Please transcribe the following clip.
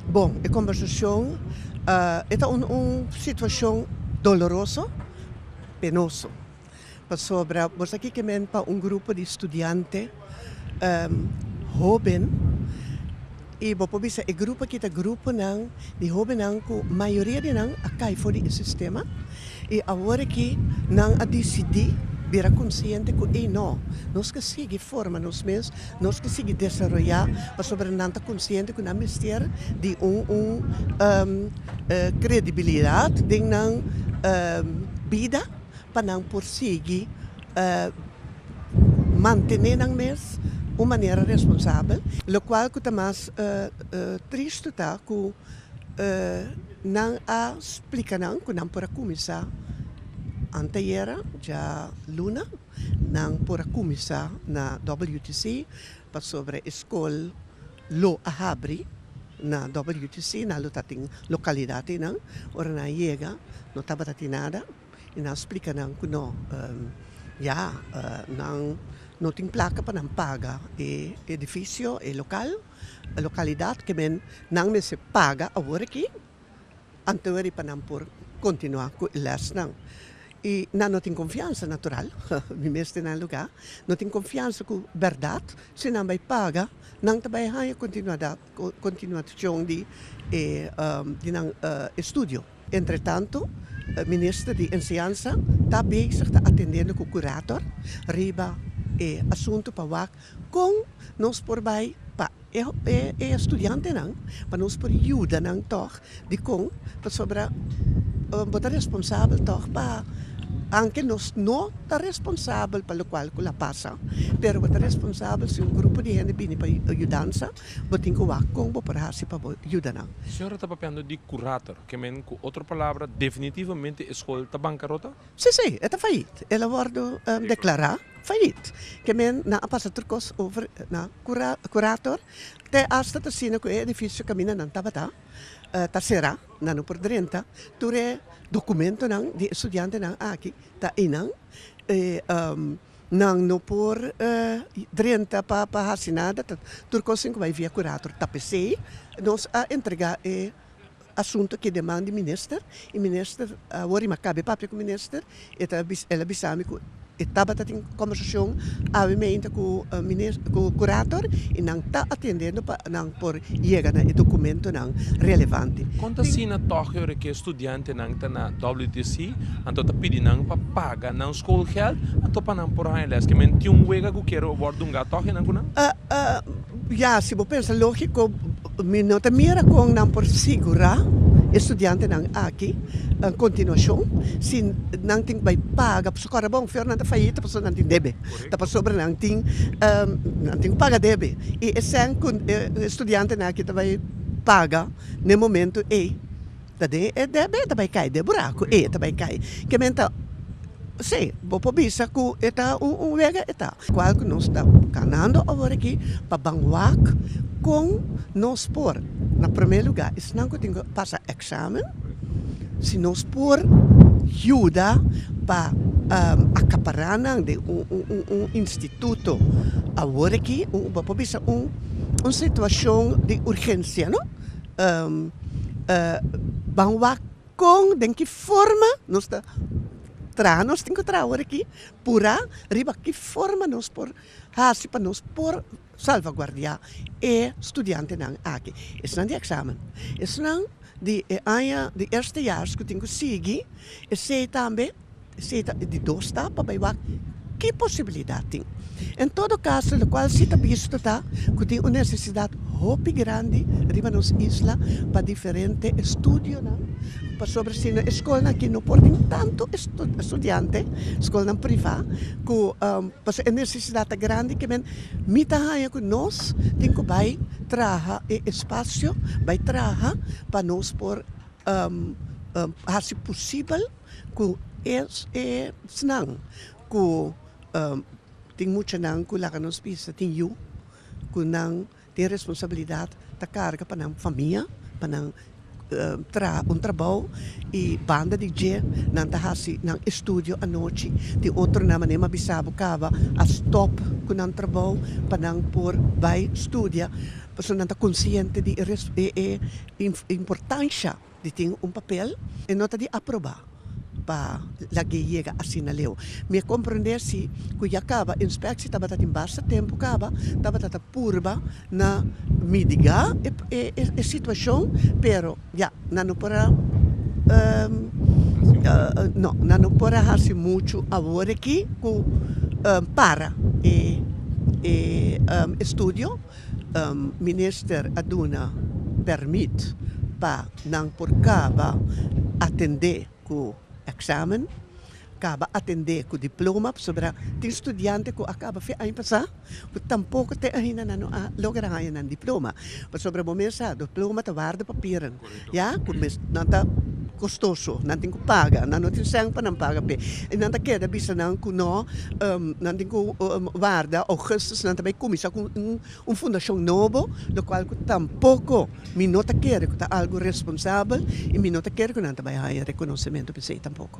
Bon, e kombersacion e ta un situacion doloroso, penoso, pasobra bo sa kiko men pa un grupo di studiante hoben y bo por bisa e grupo aki ta gruponan di hobennan cu mayoria di nan a cay for di e sistema y awor aki nan a dicidi bira consciente cu ey no, nos ke sigui forma nos mes Nos ke sigui desaroyá pasobra nan ta konsiente ku nan mester di un un kredibilidat den nan bida pa nan por sigui mantené nan mes un manera responsabel lokual ku ta mas tristu ta ku nan a splika nan ku nan por a kuminsá anteayera dja luna. Nan por a kuminsá na WTC pasobra e skol lo a habri na WTC. Nan lo tatin lokalidat einan. Ora nan yega no tabata tin nada i nan splika nan ku no ya nan no tin plaka pa nan paga e edifisio, e lokal, lokalidat ke men nan mester paga awor aki. anto riba nan por kontinuá ku e lèsnan. I nan no tin konfiansa, natural, mi mes den nan e lugá, no tin konfiansa ku bèrdat si nan bai paga, nan ta bai haña kontinuada kontinuashon di e di nan estudio. Entretanto, e minister di Enseñansa ta bezig ta atendendo ku kurator riba e asuntu pa wak Kon nos por bai pa e studiantenan pa nos por yuda nan tog? Dikon? Pasobra bo ta responsabel tog pa, aunke nos no ta responsabel pa lokual ku la pasa, pero bo ta responsabel si un grupo di hende bini pa yudansa, bo tin ku wak kon bo por hasi pa bo yuda nan. Di señora ta papiando di kurator, ke men ku otro palabra definitivamente e skol ta bankarota? Sí, sí, e ta fayit. El a wòrdu deklará fayit. Ke men nan a pasa tur kos over na kurator, te asta ta asina ku e edifisio kaminda nan tabata ta será, nan no por drenta. Tur e dokumentonan di e studiantenan aki ta einan i nan no por drenta pa hasi nada, tur kosnan ku bai via kurator ta p'esei nos a entregá e asunto ke deman di minister i minister a wor i mi a kabe papia ku minister e ta bisa el a bisa mi ku e tabata tin kombersashon awe meinta ku minis ku kurator i nan ta atendendo pa nan por yega na e dokumentunan relevante. Kon ta asina tòg e ora ke studiantenan ta na WTC anto ta pidi nan pa paga nan skoolgeld anto pa nan por haña lès? Ke men tin un wega ku kier wòrdu ungá tòg e nan ku nan? Ya, si bo pensa lógiko, mi no ta mira kon nan por sigurá e studiantenan aki un kontinuashon si nan tin ke bai paga, pasobra kòrda bon afer nan ta fayita pasobra nan tin debe, ta pasobra nan tin nan tin ku paga debe i esei ku e studiantenan aki ta bai paga na e momentu ei. Ta den e debe e ta bai kai den buraku e ta bai kai ke men ta si bo por bisa ku e ta un un wega e ta kual ku nos ta ganando awor aki pa ban wak kon nos por na prome lugar esnan ku tin ku pasa eksamen si nos por yuda pa akapara nan den un un un un instituto awor aki bo por bisa un un situashon di urgensia no. Ban wak kon, den ki forma nos ta traha, nos tin ku traha awor aki purá riba ki forma nos por hasi pa nos por salvaguardia e studiantenan aki, esnan di eksamen, esnan di e aña di eerstejaars ku tin ku sigui, esei tambe. Si ta di dos tapa bay wak ki posibilidad tin? En todo caso locual si ta bisto ta cu tin un necesidad hopi grandi riba nos isla pa diferente estudionan pasobra si no e scolnan aki no por tin tanto estudiante, scolnan priva cu pasobra e necesidad ta grandi cu kimen mi ta haya cu nos tin cu bay traha e espacio bay traha pa nos por hasi posibel. ku esnan ku tin mucha nan ku laga nos bisa tin yu ku nan tin responsabilidat ta karga pa nan famia pa nan un trabou y banda di dje nan ta hasi nan estudio anochi tin otro nan manera mi a bisa bo kaba a stop ku nan trabou pa nan por bai studia pasobra nan ta konsiente di e importansha. di tin un papel e no ta di aprobá pa la gei yega asina leu. Mi a komprondé si ku ya kaba inspekshi tabata tin basta tempu kaba tabata ta purba na midigá e situashon pero ya nan no por a no nan no por a hasi muchu awor aki ku para e estudio Minister a duna permit pa nan por kaba atendé ku eksamen, kaba atendé ku diploma, pasobra tin studiante ku a kaba fe aña pasá ku tampoko te ahinda nan no a logra haña nan diploma, pasobra bo mes sa diploma ta warda papiren. ya ku mes nan ta kostoso nan tin ku paga nan no tin sèn pa nan paga p'e i nan ta keda bisa nan ku nò nan tin ku warda ougùstùs nan ta bay kuminsá ku un un fundashon nobo lokual ku tampoko mi no ta kere ku ta algu responsabel i mi no ta kere ku nan ta bay haña rekonosementu p'esei tampoko.